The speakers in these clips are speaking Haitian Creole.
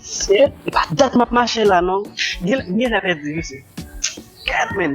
Se pa dat map mache la non. M gentan pèdi mesye. Gad menn.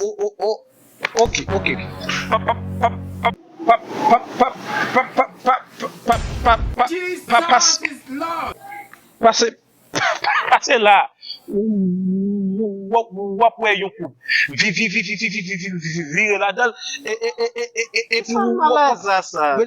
Oh oh oh ok ok Pase la wap wè yon koub vire ladanl epi wap wè